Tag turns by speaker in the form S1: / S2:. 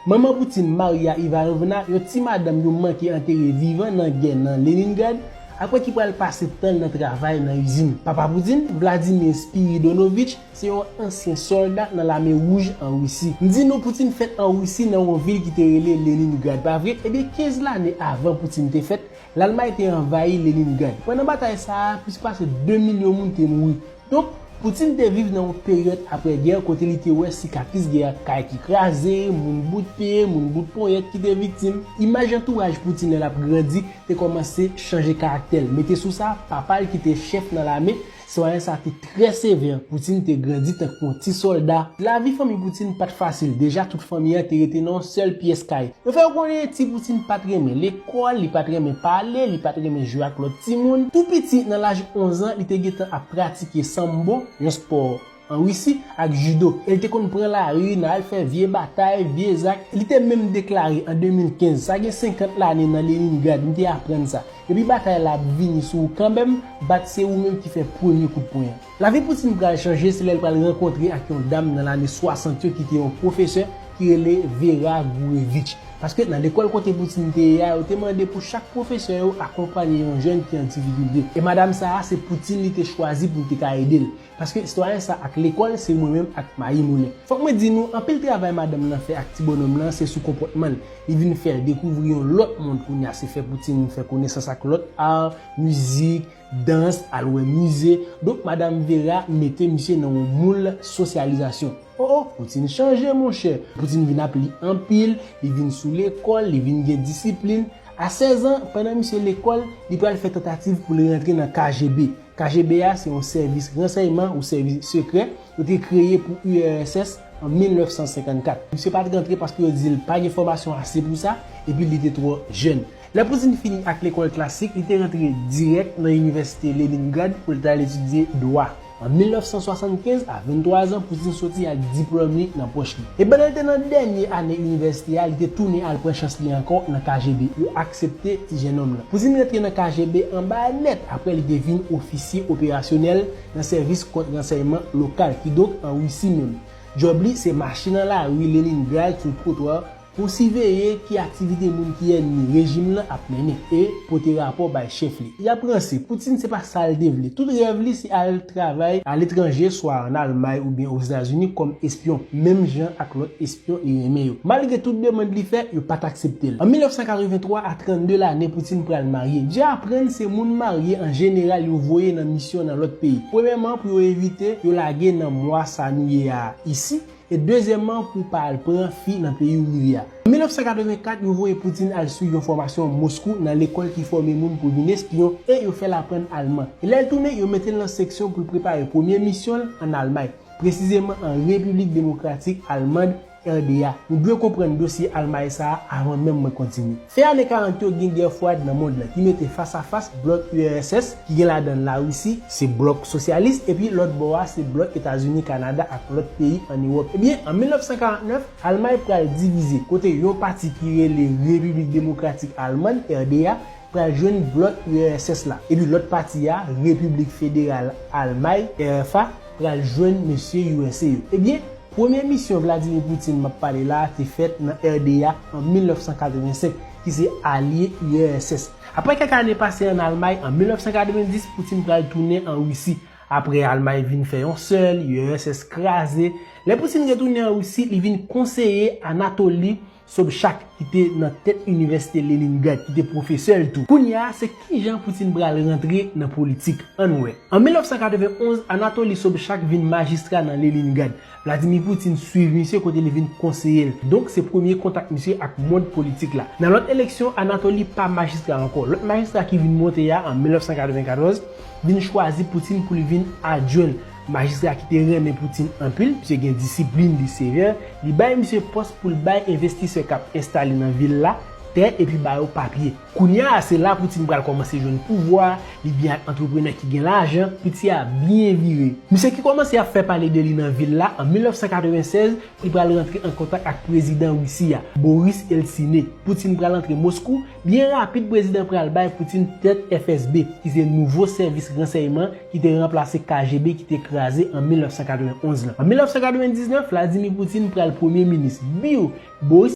S1: Manman Poutine, Maria Ivanovna, yon ti madanm yo manke antere vivan nan gè nan Leningrad, apre ki pral pase tan l nan travay nan izin. Papa Poutine, Vladimir Spiridonovich, se yon ansyen sòlda nan Lame Wouj an Risi. M di nou Poutine fèt an Risi nan yon vil ki te rele Leningrad, pa vre? Ebyen 15 lane avan Poutine te fèt, Lalmay te anvayi Leningrad. Pandan batay sa a, plis pase 2 milyon moun te mouri. Donk, Poutine te viv nan yon peryòd apre gè kote li te wè sikatris gè a, kay ki kraze, moun bout pye, moun bout ponyèt ki te viktim. Imaj antouraj Poutine lè l ap grandi te kòmanse chanje karaktè l. Mete sou sa, papa l ki te chèf nan lame, sitwayen sa te trè sevè. Poutine te grandi tankou yon ti sòlda. Lavi fanmi Poutine pa t fasil. Deja, tout fanmi an te rete nan yon sèl pyès kay. Yo fè yo konnen ti Poutine pa t renmen lekòl. kòl, li pat renmen pale, li pat renmen jwe ak lòt timoun. Tou piti, nan laj 11 an, li te gentan ap pratike Sambo, yon spò an Risi, ak Judo. E li te konn pran lari nan al fè vye batay, vye zak. Li te menm deklare an 2015, Sa gen 50 lane nan Leningrad, m te aprann sa. Depi batay la ap vini sou ou kanmenm, bat se ou menm ki fè premye kout pwen an. Lavi Poutine pral chanje se lè l pral rankontre ak yon dam nan lane 60 yo ki te yon pwofesè ki rele Vera Gurevich. Paske nan lekòl kote Poutine te ye a yo te mande pou chak pwofesè yo akonpanye yon jèn ki an difikilte. E madam sa a se Poutine li te chwazi pou l te ka ede l. Paske sitwayen sa ak lekòl se mwen menm ak mayi moulen. Fòk mwen di nou anpil travay madanm lan fè ak ti bonòm lan se sou konpòtman l. Li vin fè l dekouvri yon lòt mond kounya se fè Poutine fè konesans ak lòt art, mizik, dans, al wè mize, donk madam Vera mete misye nan yon moul sosyalizasyon. O o, Poutine chanje monchè, Poutine vin ap li anpil, li vin sou lekòl, li vin gen disiplin. A 16 an, pandan misye lekòl, li pral fè tantativ pou l rantre nan KGB. KGB a se yon sèvis ransèyman ou sèvis sekrè, yo te kreye pou URSS an 1954. Misye pa t rantre paske yo di l pa gen fòmasyon ase pou sa, epi li te twò jèn. Lè Pouzin fini ak lekòl klasik, li te rantre dirèk nan Inivèsite Leningrad pou l t al etidye dwa. An 1975, a 23 zan, Pouzin soti ak diplòm li nan pòch li. E pandan l te nan dènye ane inivèsite a, li te tounen al pran chans li ankò nan KGB. Yo aksepte ti jennonm lan. Pouzin rantre nan KGB anba nèt apre li te vin ofisye operasyonèl nan sèvis kont-ransèyman lokal, kidonk an Risi menm. Djòb li se mache nan lari Leningrad sou twotwa Pou siveye ki aktivite moun ki ènmi rejim lan ap mennen e pote rapò bay chèf li. Y ap ranse. Poutine se pa sa l te vle. Tout rèv li se al travay aletranje swa an Almay oubyen Ozetazini kòm espyon menm jan ak lòt espyon li renmen yo. Malgre tout demand li fè, yo pa t aksepte l. An 1983, a 32 lane, Poutine pral marye. Dja aprann se moun marye an jeneral yo voye nan misyon nan lòt peyi. Premyèman pou yo evite yo lage nan mwa sa nou ye a isi. E dezyèmman pou w pa al pran fi nan peyi w rive a. An 1984, yo voye Poutine al swiv yon fòmasyon Moskou nan lekòl ki fòme moun pou vin espyon e yo fè l aprann alman. E lè l tounen, yo mete l nan seksyon pou l prepare premye misyon l an Almay, presizeman an Repiblik Demokratik Almand, RDA. Nou dwe konprann dosye Almay sa a avan menm mwen kontinye. Fen ane 40 yo gen gè fwad nan mond lan ki mete fas a fas blòk URSS ki gen ladan l Larisi, se blòk sosyalis, epi lòt bò a se blòk Etazini, Kanada ak lòt peyi ann Ewòp. Ebyen, an 1949, Almay pral divize, kote yon pati ki rele Repiblik Demokratik Alman, RDA, pral jwenn blòk URSS la, epi lòt pati a, Repiblik Federal Almay, RFA, pral jwenn mesye usa yo. Ebyen, premye misyon Vladimir Putin m ap pale la a te fèt nan RDA an 1985, ki se alye URSS. Apre kèk ane pase an Almay, an 1990 Putin pral tounen an Risi. Apre Almay vin fè yon sèl, URSS kraze. Lè Putin retounen an Risi, li vin konseye Anatoly. Sobchak ki te nan tèt Inivèsite Leningrad ki te pwofesè l tou. Kounye a, se ki jan Putin pral rantre nan politik? Ann wè. An 1991, Anatoly Sobchak vin majistra nan Leningrad. Vladimir Putin swiv misye kote li vin konseye l. Donk se premye kontak misye ak mond politik la. Nan lòt eleksyon, Anatoly pa majistra ankò. Lòt majistra ki vin monte a an 1994 vin chwazi Putin pou li vin adjwen l. Majistra ki te renmen Putin anpil pske gen disiplin li sevè, li bay misye pòs pou l bay envestisè k ap enstale nan vil la tè epi ba yo papye. Kounya a se la Putin pral kòmanse jwenn pouvwa li byen ak antreprenè ki gen lajan, piti a byen vire. Misye ki kòmanse ap fè pale de li nan vil la an 1996, li pral rantre an kontak ak prezidan Risi a, Boris Eltsine. Putin pral antre Moskou, byen rapid prezidan pral bay Putin tèt FSB ki se nouvo sèvis ransèyman ki te ranplase KGB ki te kraze an 1991 lan. An 1999, Vladimir Putin pral premye minis, biw Boris.